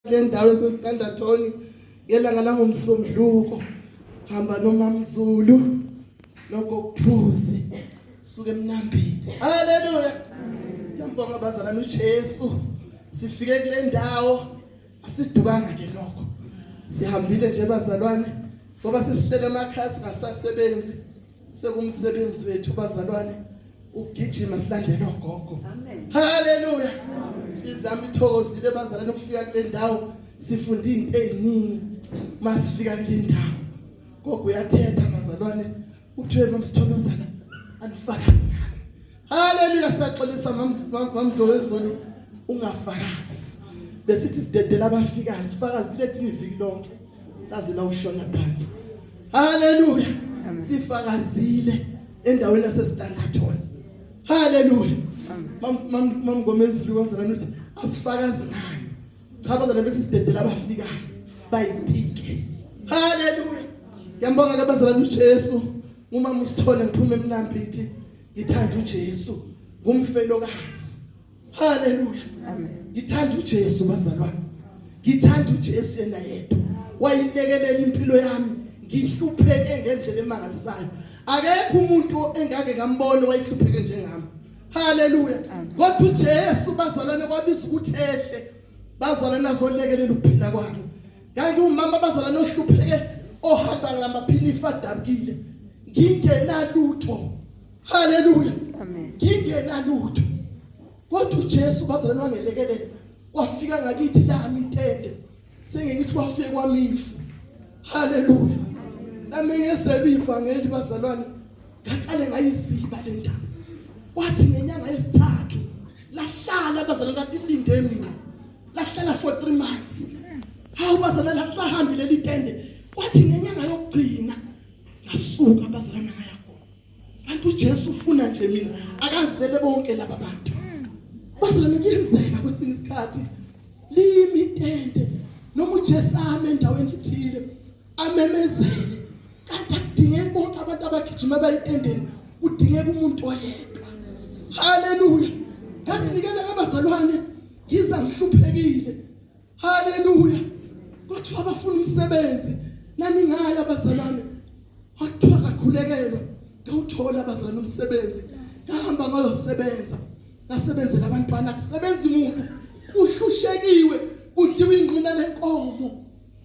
le ndawo esestandathoni ngelanga langomsombuluko hamba nomamzulu nokokuphuzi suke emnambithi haleluya ngiyambonga abazalana uJesu sifike kule ndawo asidukanga ke lokho sihambile nje bazalwane ngoba sesihlele amakhasi ngasasebenzi Sekumsebenzi wethu bazalwane ukugijima silandela ogogo. Amen. Haleluya. Izami ithokozile bazalwane ukufika kule ndawo sifunda izinto eziningi masifika kule ndawo. Gogo uyathetha mazalwane uthiwe nomsithokozana anifakazi Haleluya saxolisa mamdo wezulu ungafakazi. Besithi sidedela abafikayo sifakazile thina iviki lonke. Kaze lawushona phansi. Haleluya. Sifakazile endaweni yasesitandathona. Haleluya. Mamgomezulu kwazana ukuthi asifakazi nayo. Cha bazana bese sidedela abafikayo. Bayitike. Haleluya. Ngiyambonga ke bazalwane uJesu. Uma musithole ngiphume emnambithi Ngithanda uJesu ngumfelokazi. Haleluya. Amen. Ngithanda uJesu bazalwane. Ngithanda uJesu yena yedwa. Wayilekelela impilo yami ngihlupheke ngendlela emangalisayo. Akekho umuntu engake ngambona wayihlupheke njengami. Haleluya. Kodwa uJesu bazalwane kwabiza ukuthi ehle bazalwane azolekelela ukuphila kwami. kanti umama abazala nohlupheke ohamba ngamaphilisi adabukile ngingenalutho haleluya amen ngingenalutho kodwa uJesu bazalwane wangelekelela wafika ngakithi lami itende sengikithi wafike kwamifu haleluya nami ngezelwe ivangeli bazalwane ngaqale ngayiziba le ndaba wathi ngenyanga yesithathu lahlala bazalwane kathi ilinde mina lahlala for 3 months hawu bazalwa lasahambi leli tende kwathi ngenyanga yokugcina ngasuka bazalwa ngaya khona kanti uJesu ufuna nje mina akazele bonke laba bantu bazalwa ngiyenzeka kwesinye isikhathi limi tende noma uJesu ame endaweni ethile amemezele kanti akudingeki bonke abantu abagijima bayitendeni kudingeka umuntu oyedwa haleluya ngasinikela kabazalwane yize ngihluphekile haleluya kwathiwa abafuna umsebenzi naningaya abazalwane kwathiwa kakhulekelwa ngawuthola abazalwane umsebenzi ngahamba ngayosebenza ngasebenzela abantwana kusebenza umuntu kuhlushekiwe kudliwa ingqina lenkomo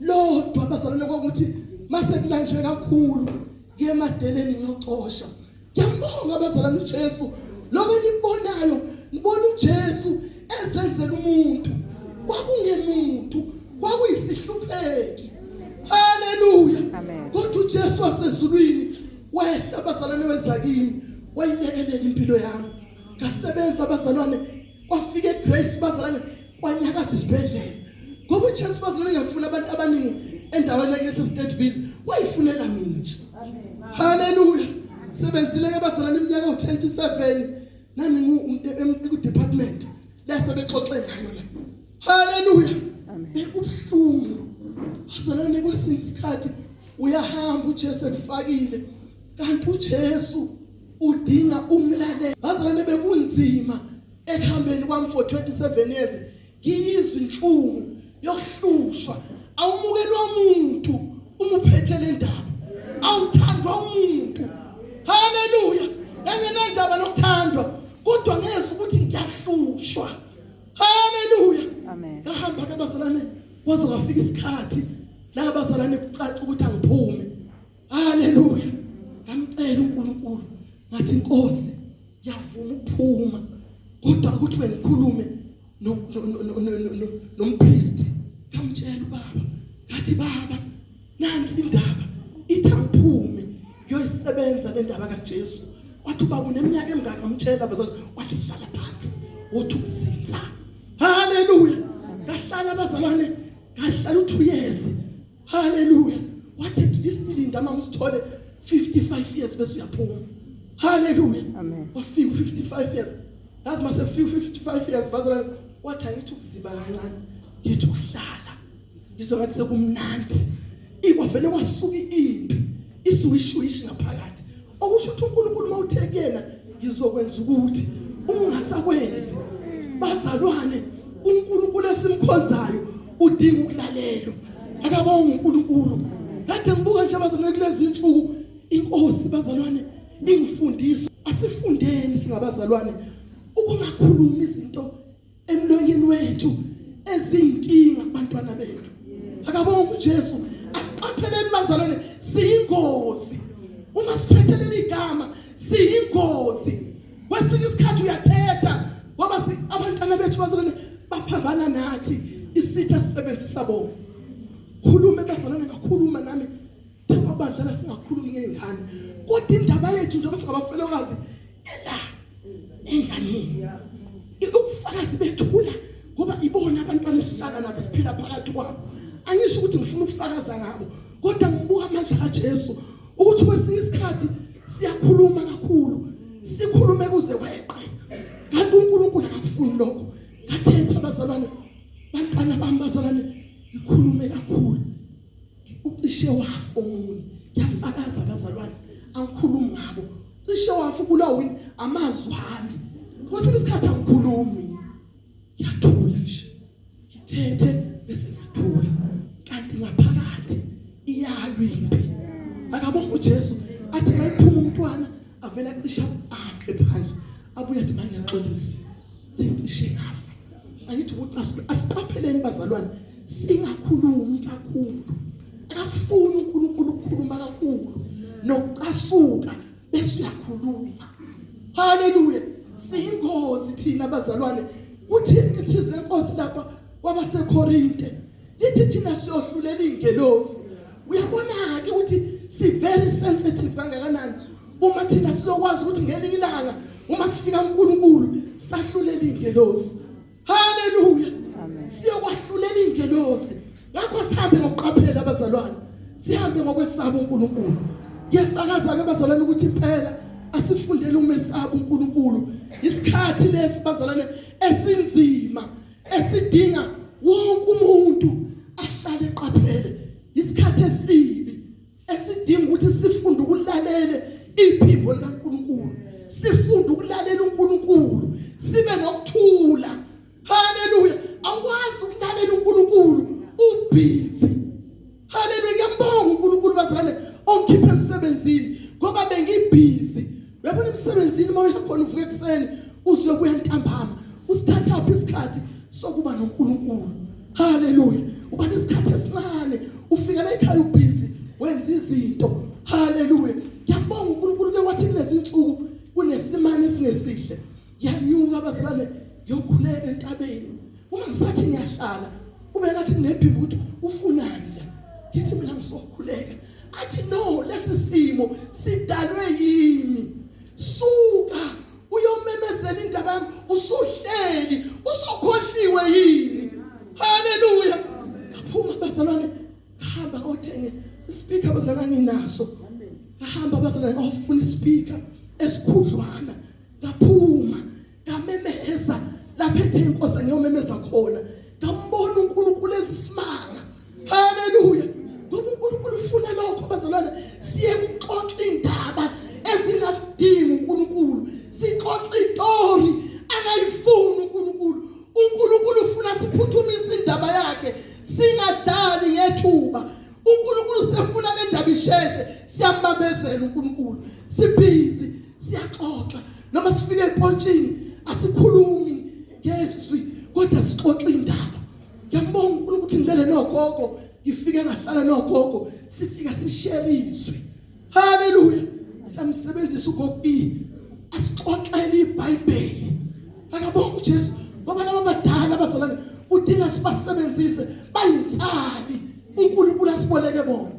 lodwa abazalwane kwakuthi mase kulanjwe kakhulu ngiyemadeleni ngiyocosha Ngiyambonga abazalwane uJesu. Lokho enikubonayo, ngibona uJesu ezenzela umuntu. Kwakungemuntu, kwakuyisihlupheki. Haleluya. Kodwa uJesu wasezulwini wehla abazalwane wezakini, wayilekelela impilo yami. Ngasebenza abazalwane kwafika eGrace bazalane kwanyakaza isibhedlela ngoba uChase bazalane ngafuna abantu abaningi endaweni yakithi eStateville wayifunela mina nje haleluya sebenzile ke bazalane iminyaka u27 nami ngiwumuntu eku department lase bexoxe ngayo la haleluya bekubuhlungu bazalane kwesinye isikhathi uyahamba uJesu ekufakile kanti uJesu udinga umlaleli bazalwane bekunzima ekuhambeni kwami for 27 years ngiyizwa inhlungu yokuhlushwa awumukelwa umuntu uma uphethe le ndaba awuthandwa umuntu haleluya engenandaba nokuthandwa kodwa ngezwe ukuthi ngiyahlushwa haleluya amen kahamba ke bazalwane waze wafika isikhathi la bazalwane kucaca ukuthi angiphume haleluya ngamcela uNkulunkulu ngathi inkosi yavuma ukuphuma kodwa ukuthi bengikhulume nompriest ngamtshela ubaba ngathi baba nansi indaba ithi angiphume ngiyoyisebenza le ndaba kaJesu wathi ubaba uneminyaka emingaka ngamtshela bazali wathi hlala phansi wothi uzinza haleluya ngahlala abazalwane ngahlala uthuyezi haleluya wathi at least linda mama usithole 55 years bese uyaphuma haleluya amen wafika 55 years yazi mase 55 years bazalwane wathi angithi ukuziba kancane ngithi ukuhlala ngizwa ngathi sekumnandi ikwavele kwasuka impi isuwishuwishi ngaphakathi okusho ukuthi uNkulunkulu mawuthe kuyena ngizokwenza ukuthi ungasakwenzi bazalwane uNkulunkulu esimkhonzayo udinga ukulalelwa akabonga uNkulunkulu kade ngibuka nje bazalwane kulezi insuku inkosi bazalwane ingifundisa asifundeni singabazalwane ukungakhulumi izinto emlonyeni wethu ezinkinga kubantwana bethu akabonga uJesu asiqapheleni bazalwane siyingozi uma siphethelele igama siyingozi kwesinye isikhathi uyathetha ngoba abantwana bethu bazalwane baphambana nathi isitha sisebenzisa bona khulume bazalwane ngakhuluma nami Thema badlala singakhulumi ngezingane. Kodwa indaba yethu njengoba singabafelokazi ela enganeni. Ukufakazi bethula ngoba ibona abantu banisilana nabo siphila phakathi kwabo. Angisho ukuthi ngifuna ukufakaza ngabo kodwa ngibuka amandla kaJesu ukuthi kwesinye isikhathi siyakhuluma kakhulu sikhulume kuze kweqe kanti uNkulunkulu akafuni lokho athethe abazalwane bantwana bami bazalwane ngikhulume kakhulu ucishe wafa omunye yafakaza abazalwane angikhulumi ngabo cishe wafa ubulawa yini amazwi ami kwesinye isikhathi angikhulumi ngiyathula nje ngithethe bese ngiyathula kanti ngaphakathi iyalwa impi akabonga uJesu athi mayiphuma umntwana avela cisha afe phansi abuye athi mangiyaxolisa sengishe ngafa angithi ucasuke asiqapheleni bazalwane singakhulumi kakhulu akafuni uNkulunkulu ukukhuluma kakhulu nokucasuka bese uyakhuluma haleluya siyingozi thina bazalwane kuthini lithize lenkosi lapha kwabaseKorinte lithi thina siyohlulela izingelosi uyabona ke ukuthi si very sensitive kangakanani uma thina sizokwazi ukuthi ngelinye ilanga uma sifika uNkulunkulu sahlulela izingelosi haleluya siyokwahlulela izingelosi ngakho sihambe ngokuqaphela abazalwane sihambe ngokwesaba uNkulunkulu yesakaza ke bazalwane ukuthi phela asifundele umesaba uNkulunkulu isikhathi lesi bazalwane esinzima esidinga wonke umuntu ahlale eqaphele isikhathi esibi esidinga ukuthi sifunde ukulalela iphimbo likaNkuluNkulu sifunde ukulalela uNkuluNkulu sibe nokuthula haleluya awukwazi ukulalela uNkuluNkulu ubhizi Haleluya ngiyambonga uNkulunkulu bazalwane ongikhiphe emsebenzini ngoba bengibhizi uyabona emsebenzini uma uyakhona uvuka ekuseni uzokuya ntambama usithathaphi isikhathi sokuba noNkulunkulu haleluya uba nesikhathi esincane ufika la ekhaya ubhizi wenza izinto haleluya ngiyabonga uNkulunkulu ke wathi kulezi insuku kunesimane esingesihle yanyuka abazalwane yokhuleka entabeni uma ngisathi ngiyahlala ubekathi nginephimbo ukuthi ufunani la ngithi mina ngizokhuleka athi no lesi simo sidalwe yimi suka uyomemezela indaba yami usuhleli usukhohliwe yini haleluya aphuma bazalwane hamba othenge ispeaker bazalwane naso ahamba bazalwane ofuna ispeaker esikhudlwana ngaphuma ngamemeza lapha ethe inkosi ngiyomemeza khona ngambona uNkulunkulu ezisimanga haleluya ngoba uNkulunkulu ufuna lokho bazalwane siye kuxoxa indaba ezingadingi uNkulunkulu sixoxa itori akayifuni uNkulunkulu uNkulunkulu ufuna siphuthumise indaba yakhe singadlali ngethuba uNkulunkulu sefuna le ndaba isheshe siyambambezela uNkulunkulu sibhizi siyaxoxa noma sifike epontshini asikhulumi ngezwi kodwa sixoxa indaba ngiyambonga uNkulunkulu ukuthi ngilele nogogo ngifike ngahlala nogogo sifika sishare izwi haleluya samsebenzisa ugogo i asixoxele iBhayibheli akabonga uJesu ngoba laba badala bazolana udinga sibasebenzise bayinsali uNkulunkulu asiboleke bona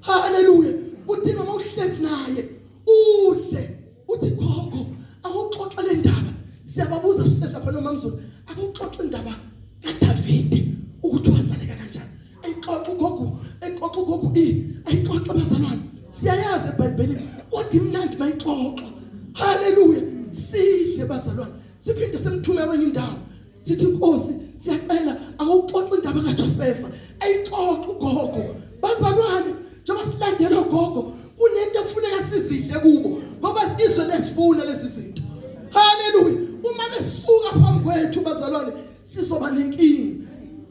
haleluya udinga mawuhlezi naye Kuhle uthi gogo akuxoxe le ndaba siyababuza sihlezi lapha nomamzulu akuxoxe indaba kaDavide ukuthi wazaleka kanjani ayixoxe gogo ayixoxe gogo i ayixoxe bazalwane siyayazi eBhayibhelini kodwa imnandi mayixoxa haleluya sidle bazalwane siphinde simthume kwenye indawo sithi inkosi siyacela awuxoxe indaba kaJosefa ayixoxe ugogo bazalwane njengoba silandela ugogo kunento ekufuneka sizidle kubo ngoba izwe lesifuna lezi zinto haleluya uma besuka phambi kwethu bazalwane sizoba nenkinga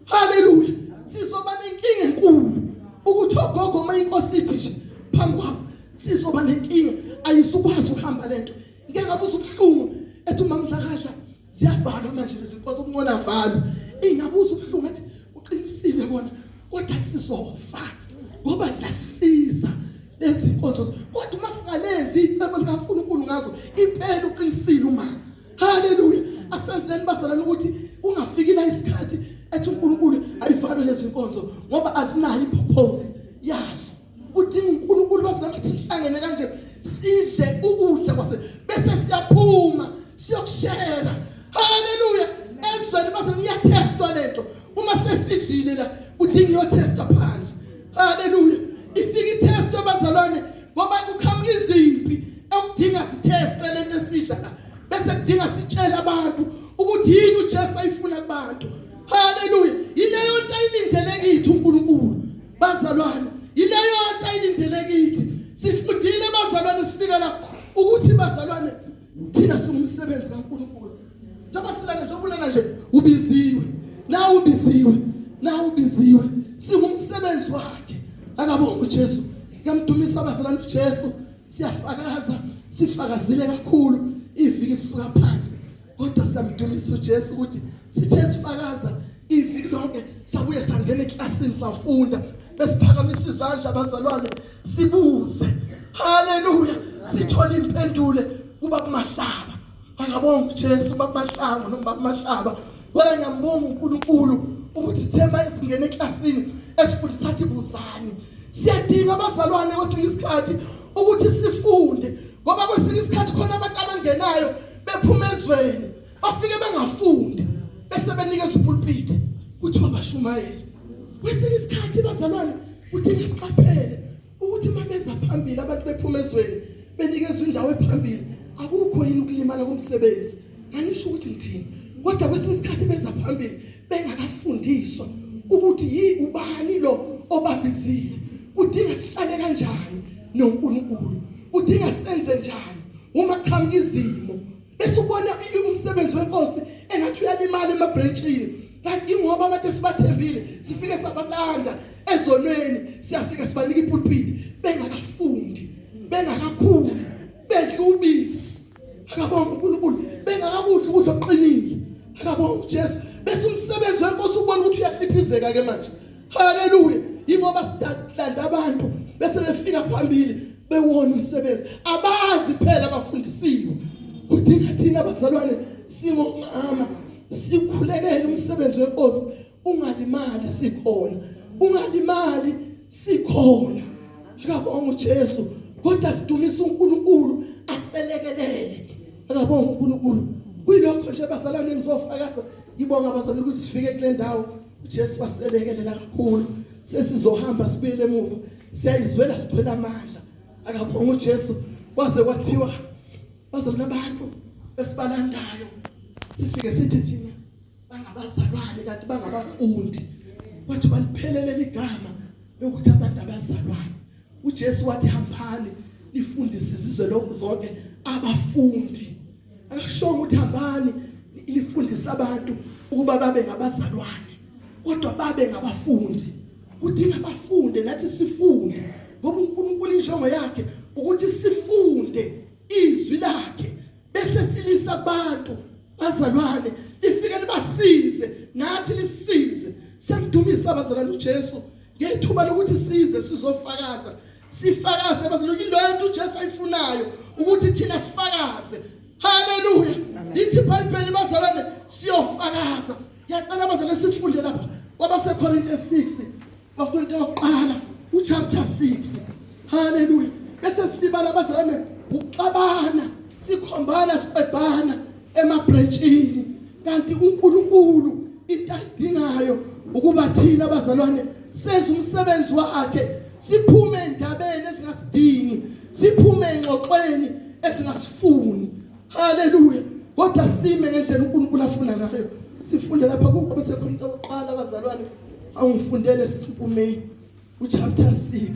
haleluya sizoba nenkinga enkulu ukuthi ogogo uma inkosi ithi nje phambi kwabo sizoba nenkinga ayisukwazi ukuhamba lento ngeke ngabuza ubuhlungu ethi umamdlakadla Ziyavalwa manje lezi nkonzo kuncola valwa. Ingabuza ubuhlungu athi uqinisile kona kodwa sizofa ngoba siyasiza lezi nkonzo kodwa uma singalenzi icebo likaNkulunkulu ngazo impela uqinisile uma haleluya asenzeni bazalana ukuthi ungafiki la isikhathi ethi uNkulunkulu ayivalwe lezi nkonzo ngoba azinayo ipurpose yazo Kudinga uNkulunkulu wazi lapho sihlangene kanje sidle ukudla kwase bese siyaphuma siyokushera. Haleluya. Ezweni base niyatestwa lento. Uma sesidlile la kudinga iyotestwa phansi. Haleluya. Ifika itest abazalwane ngoba kuqhamuka izimpi ekudinga sithestwe lento esidla la. Bese kudinga sitshele abantu ukuthi yini uJesu ayifuna kubantu. Haleluya. Yileyo nto ayilindele kithi uNkulunkulu. Bazalwane, yileyo nto ayilindele kithi. Sifundile bazalwane sifika lapha ukuthi bazalwane thina singumsebenzi kaNkulunkulu. Njengoba silana njengoba ulana nje ubiziwe. Na ubiziwe. Na ubiziwe. Singumsebenzi wakhe. Akabonga uJesu. Kuyamdumisa bazalwane uJesu. Siyafakaza sifakazile kakhulu iviki lisuka phansi. kodwa samdumisa uJesu ukuthi sithe sifakaza iviki lonke sabuye sangena eklasini safunda besiphakamisa izandla abazalwane sibuze haleluya sithola impendule kuba kumahlaba angabonga uJesu babamahlango noma babamahlaba wena ngiyambonga uNkulunkulu ukuthi thema esingena eklasini esifundisa athi buzani siyadinga abazalwane kwesinye isikhathi ukuthi sifunde ngoba kwesinye isikhathi khona abantu abangenayo bephuma ezweni bafike bengafundi bese benikeza upulpiti ukuthi mabashumayele kwesinye isikhathi bazalwane kudinga siqaphele ukuthi mabeza phambili abantu bephuma ezweni benikezwa indawo ephambili akukho yini ukulimala komsebenzi angisho ukuthi ngithini kodwa kwesinye isikhathi beza phambili bengakafundiswa ukuthi yi ubani lo obabizile kudinga sihlale kanjani noNkulunkulu kudinga senze njani uma kuqhamuka izimo bese ubona umsebenzi wenkosi engathi uyalimala emabranchini kanti ingoba abantu esibathembile sifike sabalanda ezonweni siyafika sibanika ipulpiti bengakafundi bengakakhuli bedla ubisi akabonga uNkulunkulu bengakakudla ukuthi oqinile akabonga uJesu bese umsebenzi wenkosi ubona ukuthi uyafiphizeka ke manje haleluya ingoba sidadlanda abantu bese befika phambili bewona umsebenzi abazi phela abafundisiwe kudinga thina abazalwane singomama sikhulekele umsebenzi wenkosi ungalimali sikhona ungalimali sikhona akabonga uJesu kodwa sidumisa uNkulunkulu aselekelele akabonga uNkulunkulu kuyilokho nje bazalwane ngizofakaza ngibonga bazalwane ukuthi sifike kule ndawo uJesu waselekelela kakhulu sesizohamba sibuyele emuva siyayizwela siphela amandla akabonga uJesu kwaze kwathiwa baze kunabantu esibalandayo sifike sithi thina bangabazalwane kanti bangabafundi wathi baliphelelele igama lokuthi abantu abazalwane uJesu wathi hambani nifundise izizwe lokho zonke abafundi akashongo ukuthi hambani nifundise abantu ukuba babe ngabazalwane kodwa babe ngabafundi kudinga abafunde nathi sifunde ngoba uNkulunkulu injongo yakhe ukuthi sifunde izwi lakhe bese silisa abantu bazalwane lifike libasize nathi lisize sengidumisa abazalwane uJesu Ngethuba lokuthi size sizofakaza, sifakaze bazalwane iloyo nto uJesu ayifunayo ukuthi thina sifakaze. Haleluya. Yithi iBhayibheli bazalwane siyofakaza. Ngiyacela bazalwane sifunde lapha kwabaseKorinte 6, kwaKorinte yokuqala uchapter 6. Haleluya. Bese silibala bazalwane ukuxabana, sikhombana, sibhebhana. emabhrentshini kanti uNkulunkulu into ayidingayo ukuba thina abazalwane senze umsebenzi wakhe siphume endabeni ezingasidingi siphume engxoxweni ezingasifuni haleluya kodwa sime ngendlela uNkulunkulu afuna ngayo sifunde lapha kukho besekhona into yokuqala abazalwane awungifundele sisimpumei uchapter 6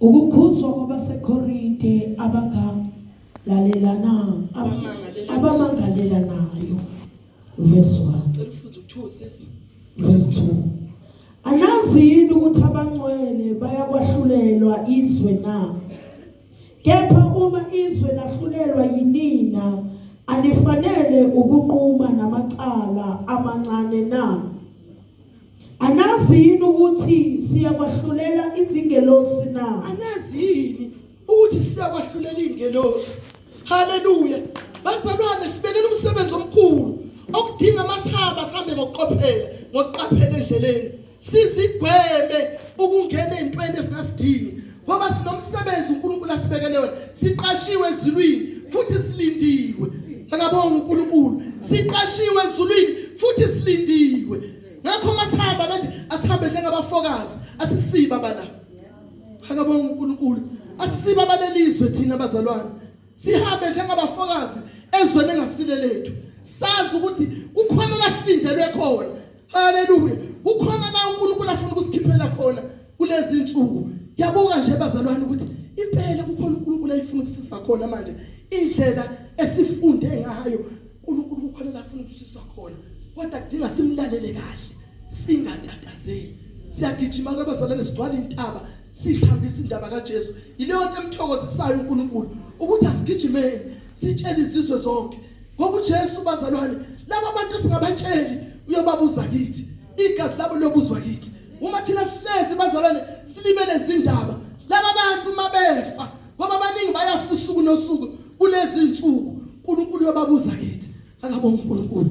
Ukukhuzwa kwabaseKorinte abangalalelanayo abamangalelanayo verse 1 Cela ufunde ukuthiwa sisi. verse 2 Anazi yini ukuthi abangcwele bayakwahlulelwa izwe na Kepha uma izwe lahlulelwa yinina anifanele ukunquma namacala amancane na Anazi yini ukuthi siyakwahlulela izingelosi na? Anazi yini ukuthi siyakwahlulela izingelosi? Haleluya. Bazalwane sibekele umsebenzi omkhulu okudinga masihamba sihambe ngokuqophela, ngokuqaphela endleleni. Sizigweme ukungena ezintweni esingasidingi ngoba sinomsebenzi uNkulunkulu asibekele wona. Siqashiwe ezulwini futhi silindiwe. Akabonga uNkulunkulu. Siqashiwe ezulwini futhi silindiwe. ngakho uma sihamba nje asihambe njengabafokazi asisiba bala akabonga uNkulunkulu asisiba balelizwe thina bazalwane sihambe njengabafokazi ezweni engasile lethu sazi ukuthi kukhona la silindelwe khona haleluya kukhona la uNkulunkulu afuna ukusikhiphela khona kulezi insuku ngiyabuka nje bazalwane ukuthi impela kukhona uNkulunkulu ayifuna ukusisa khona manje indlela esifunde ngayo uNkulunkulu kukhona la afuna ukusisa khona kodwa kudinga simlalele kahle singatatazeli siyagijima kwabazalwane sigcwala intaba sihambisa indaba kaJesu yileyo nto emthokozisayo uNkulunkulu ukuthi asigijimeni sitshele izizwe zonke ngokuJesu bazalwane laba bantu singabatsheli uyobabuza kithi igazi labo lobuzwa kithi uma thina sihlezi bazalwane silibele izindaba laba bantu mabefa ngoba abaningi bayafisa usuku nosuku kulezi nsuku uNkulunkulu uyababuza kithi akabonga uNkulunkulu